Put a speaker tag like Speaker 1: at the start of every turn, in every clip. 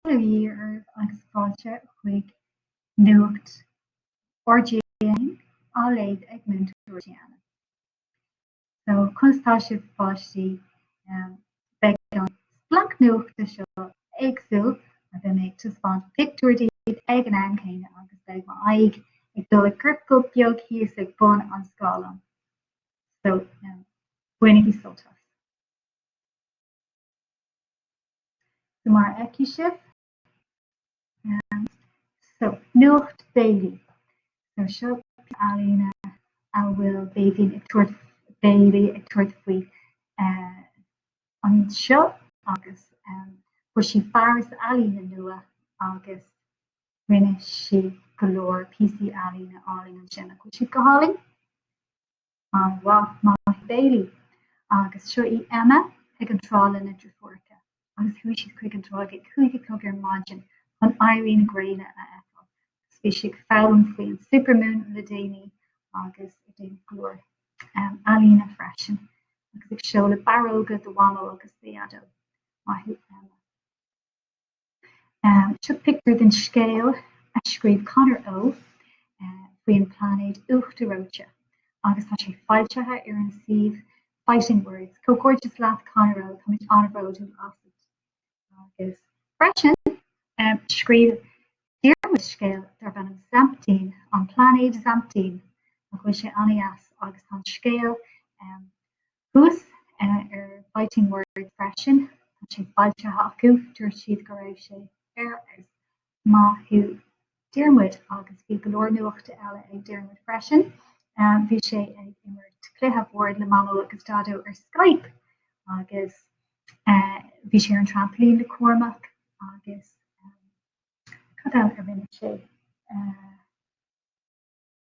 Speaker 1: Míle fáilte romhaibh agus fáilte chuig Nuacht RTÉ 1, á léamh ag Múinteoir Diane. So, conas tá sibh páistí? Beidh an splanc nuachta seo éagsúil mar beidh mé ag taispeáint pictiúir daoibh ag an am céanna agus beidh m'aghaidh ag dul i gciorcal beag thíos ag bun an scáileáin. So, bainigí sult as. So mar a fheiceann sibh, um, so nuacht Bailey. So seo ealaín a bhfuil Béibhinn ag tabhairt Bailey ag tabhairt faoi uh, an seo agus um, fuair sí fearas ealaíne nua agus rinne sí go leor píosaí ealaíne álainn ansin. Nach bhfuil siad go hálainn? An-mhaith maith thú Bailey. Agus seo í Emma ag an trá lena deirfiúracha agus chuaigh siad chuig an trá ag a cúig a chlog ar maidin chun éirí na gréine a fheiceáil. Agus bhí sí ag foghlaim faoin supermoon le déanaí agus ag déanamh go leor um, ealaíne freisin agus ag seoladh barróga do Mhamó agus do Dhaideo. Maith thú Emma. Seo pictiúr den scéal a scríobh Conor O faoi an bpláinéad uachtar reoite agus tá sé foilsithe ar an suíomh Fighting Words. Comhghairdeas leat Conor O, táimid an-bhródúil asat. Agus freisin scríobh Diarmuid scéal darb ainm Zampteen, An Pláinéad Zampteen, nach bhfuil sé an-deas agus tá an scéal Thuas ar Fighting Words freisin, tá sé foilsithe acu, dúirt siad go raibh sé ar fheabhas. Maith thú Diarmuid agus bhí go leor nuachta eile ag Diarmuid freisin. Bhí sé ag imirt cluiche boird le Mamó agus Daideo ar Skype agus bhí sé ar an trampailín le Cormac agus cad eile a rinne sé?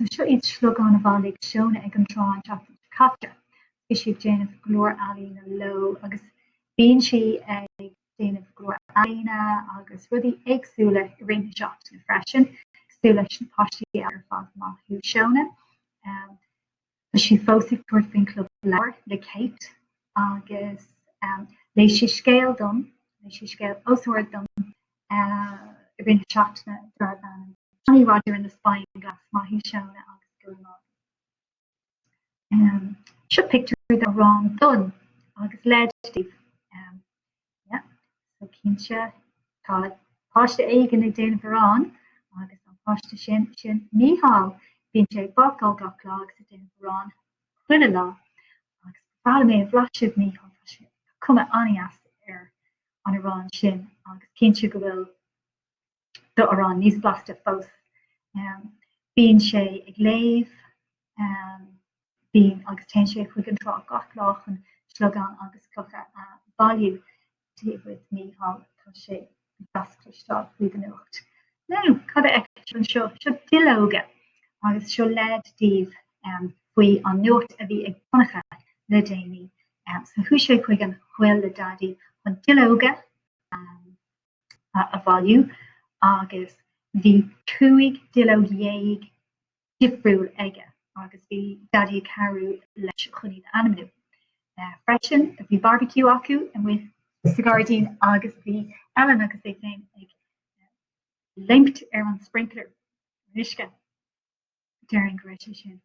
Speaker 1: So seo iad sliogáin a bhailigh Seona ag an trá an tseachtain seo caite. Bhí sí ag déanamh go leor ealaíne leo agus bíonn sí ag déanamh go leor ealaíne agus rudaí éagsúla i rith na seachtaine freisin, cosúil leis na páistí ar fad maith thú Seona. Um, Tá sí fós ag tabhairt faoin club leabhar le Kate agus léigh sí scéal dom, léigh sí scéal os ard dom i rith na seachtaine darb ainm Johnny Roger and the Spying Glass, Maith thú Seona agus go raibh maith agat. Seo pictiúr de Ron Dunne agus léid daoibh. Cinnte tá páiste éigin ag déanamh arán agus an páiste sin sin Mícheál. Bíonn sé ag bácáil gach lá agus ag déanamh arán chuile lá. Agus ba mhaith liom é a bhlaiseadh a Mhíchíl, tá sé tá cuma an-dheas air an arán sin agus cinnte go bhfuil do arán níos blasta fós. Bíonn sé ag léamh bíonn agus téann sé chuig an trá gach lá chun sliogáin agus clocha a bhailiú. Dia dhuit a Mhíchíl, tá sé go deas cloisteáil faoi do nuacht. Now, cad a fheictear anseo? Seo duilleoga agus seo leid daoibh faoi an nuacht a bhí ag Donncha le déanaí. So chuaigh sé chuig an gcoill le Daidí chun duilleoga a a bhailiú agus bhí cúig duilleog dhéag difriúil aige agus bhí Daidí ag cabhrú leis chun iad a ainmniú. Freisin bhí barbecue acu amuigh sa ghairdín agus bhí Ellen agus é féin ag léimt thar an sprinkler uisce. déarfainn go raibh sé sin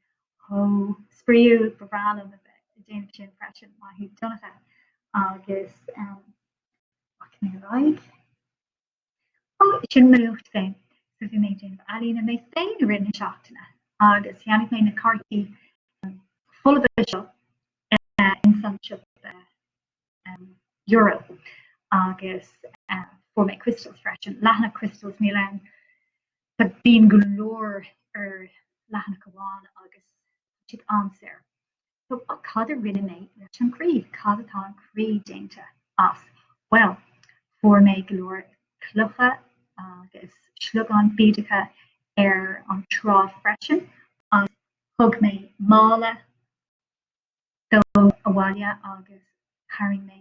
Speaker 1: chomh spraíúil, ba bhreá liom a bheith ag déanamh sin freisin, maith thú Donncha agus rachaidh mé ar aghaidh. Ó sin mo nuacht féin so bhí mé ag déanamh ealaíne mé féin i rith na seachtaine agus cheannaigh mé na cártaí folamh seo in san seo euro agus fuair mé crystals freisin lena crystals mí len Tá bíonn go leor ar leathanach amháin agus tá siad an-saor. So, cad a rinne mé leis an gcroí? Cad atá an croí déanta as? Bhuel, fuair mé go leor clocha agus sliogáin bídeacha ar an trá freisin agus thug mé mála díobh abhaile agus tharraing mé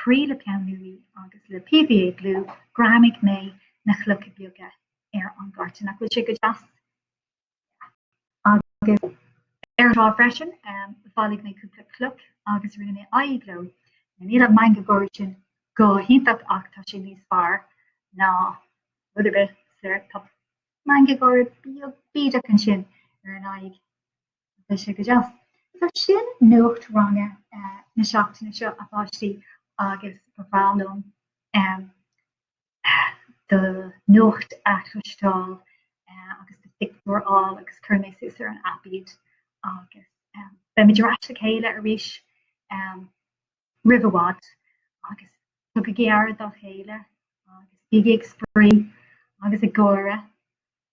Speaker 1: Croí le Peann Luaidhe agus le PVA glue greamaigh mé na clocha beaga ar an gcárta. Nach bhfuil sé go deas? Agus ar an trá freisin, bhailigh mé cúpla cloch agus rinne mé aghaidh leo. Níl an meangadh gáire sin go hiontach ach tá sé níos fearr ná rud ar bith so. Tá meangadh gáire beag bídeach ansin ar an aghaidh. bhí sé go deas. So sin nuacht ranga na seachtaine seo a pháistí agus ba bhreá liom do nuacht a chloisteáil agus do phictiúir a fháil agus cuirfidh mé suas ar an aip iad agus beimid ar ais le chéile arís roimh i bhfad agus tugaigí aire dá chéile agus bígí ag spraoi agus ag gáire